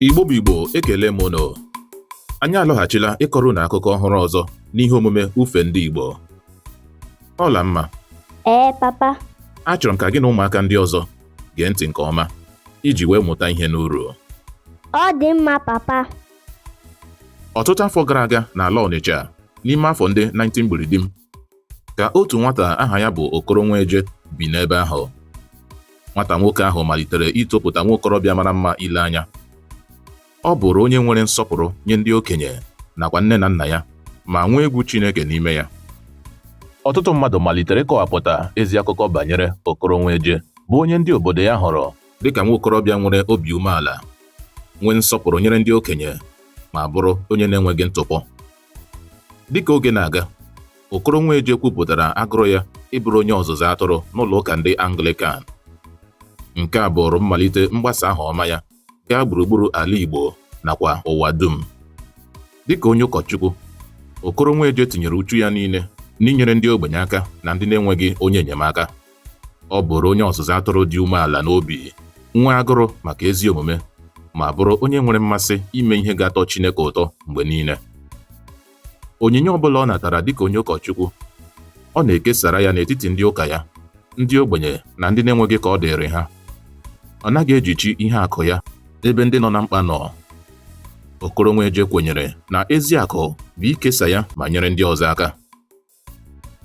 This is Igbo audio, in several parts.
Igbo bụ Igbo ekele m unu anyị alọghachila ịkọrọ unu akụkọ ọhụrụ ọzọ n'ihe omume ufe ndị Igbo Ọlamma ee papa achọrọ m ka gị na ụmụaka ndị ọzọ gee ntị nke ọma iji wee mụta ihe n'uru ọ dị mma papa ọtụtụ afọ gara aga n'ala Ọnịcha n'ime afọ ndị 19 gburidim ka otu nwata aha ya bụ Okoro Nweje bi n'ebe ahụ nwata nwoke ahụ malitere itopụta nwa okorobịa mara mma ile anya ọ bụrụ onye nwere nsọpụrụ nye ndị okenye nakwa nne na nna ya ma nwee egwu Chineke n'ime ya ọtụtụ mmadụ malitere ịkọwapụta ezi akụkọ banyere Okoro Nweje bụ onye ndị obodo ya hụrụ dịka nwa okorobịa nwere obi umeala nwee nsọpụrụ nyere ndị okenye ma bụrụ onye na-enweghị ntụpọ Dịka oge na-aga, Okoro Nweje kwupụtara agụrụ ya ịbụrụ onye ọzụzụ atụrụ n'ụlọ ụka ndị Anglikan. Nke a bụụrụ mmalite mgbasa aha ọma ya gaa gburugburu ala Igbo nakwa ụwa dum. Dịka onye ụkọchukwu, Okoro Nweje tinyere uchu ya niile n'inyere ndị ogbenye aka na ndị na-enweghị onye enyemaka. Ọ bụrụ onye ọzụzụ atụrụ dị umeala n'obi, nwee agụrụ maka ezi omume, ma bụrụ onye nwere mmasị ime ihe ga-atọ Chineke ụtọ mgbe niile. Onyinye ọ bụla ọ natara dịka onye ụkọchukwu, ọ na-ekesara ya n'etiti ndị ụka ya, ndị ogbenye na ndị na-enweghị ka ọ dịrị ha. Ọ naghị ejichi ihe akụ ya ebe ndị nọ na mkpa nọ. Okoro Nweje kwenyere na ezi akụ bụ ikesa ya ma nyere ndị ọzọ aka.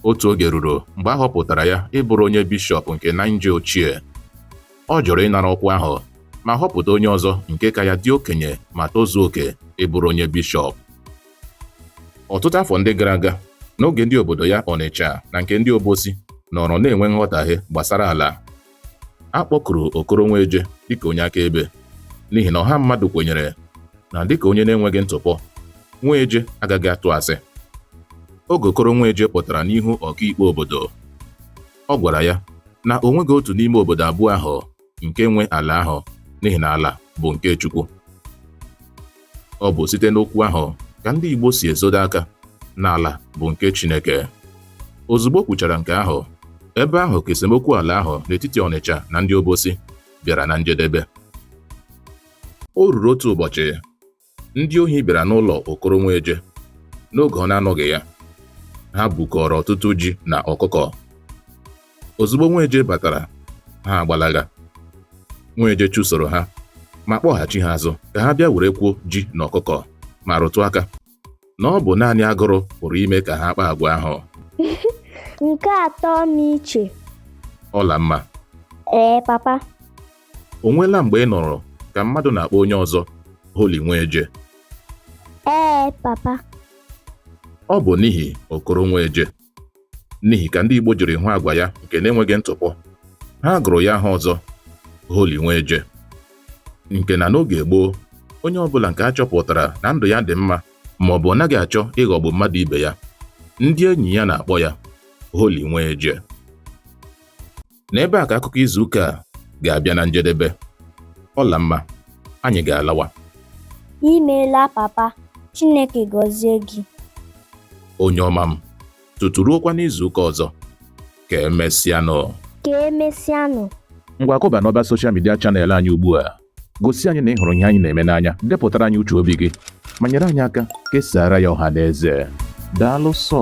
Otu oge ruru mgbe a họpụtara ya ịbụrụ onye bishọp nke Naịja ochie. Ọ jụrụ ịnara ọkwa ahụ ma họpụta onye ọzọ nke ka ya dị okenye ma tozuo oke ịbụrụ onye bishọp. Ọtụtụ afọ ndị gara aga, n'oge ndị obodo ya Ọnịcha na nke ndị Obosi nọrọ na-enwe nghọtahie gbasara ala, a kpọkuru Okoro Nweje dịka onye akaebe n'ihi na ọha mmadụ kwenyere na dịka onye na-enweghị ntụpọ Nweje agaghị atụ asị oge Okoro Nweje pụtara n'ihu ọkaikpe obodo ọ gwara ya na o nweghị otu n'ime obodo abụọ ahụ nke nwe ala ahụ n'ihi na ala bụ nke Chukwu Ọ bụ site n'okwu ahụ ka ndị Igbo si ezodo aka na ala bụ nke Chineke. Ozugbo o kwuchara nke ahụ, ebe ahụ ka esemokwu ala ahụ n'etiti Ọnịcha na ndị Obosi bịara na njedebe. O ruru otu ụbọchị, ndị ohi bịara n'ụlọ Okoro Nweje n'oge ọ na-anọghị ya. Ha bukọrọ ọtụtụ ji na ọkụkọ. ozugbo nweje batara ha agbalaga nweje chụsoro ha ma kpọghachi ha azụ ka ha bịa werekwuo ji na ọkụkọ ma rụtụ aka na ọ bụ naanị agụrụ pụrụ ime ka ha kpaa agwa ahụ nke atọ m iche ọla mma ee papa o nweela mgbe ị nụrụ ka mmadụ na-akpọ onye ọzọ holi nweje ee papa ọ bụ n'ihi okoro nweje n'ihi ka ndị Igbo jiri hụ agwa ya nke na-enweghị ntụpọ ha gụrụ ya aha ọzọ Holy Nweje nke na n'oge gboo onye ọbụla nke a chọpụtara na ndụ ya dị mma ma ọ bụ ọ naghị achọ ịghọgbu mmadụ ibe ya ndị enyi ya na-akpọ ya Holy Nweje n'ebe a ka akụkọ izu ụka a ga-abịa na njedebe ọla mma anyị ga-alawa imeela papa chineke gọzie gị onye ọma m tutu ruokwa n'izu ụka ọzọ ka emesịanụ ka emesịanụ ngwa kụba n'ọba soshal midia chanel anyị ugbu a gosi anyị na ị hụrụ ihe anyị na-eme n'anya depụtara anyị uche obi gị ma nyere anyị aka kesaara ya ọha na eze daalụ sọ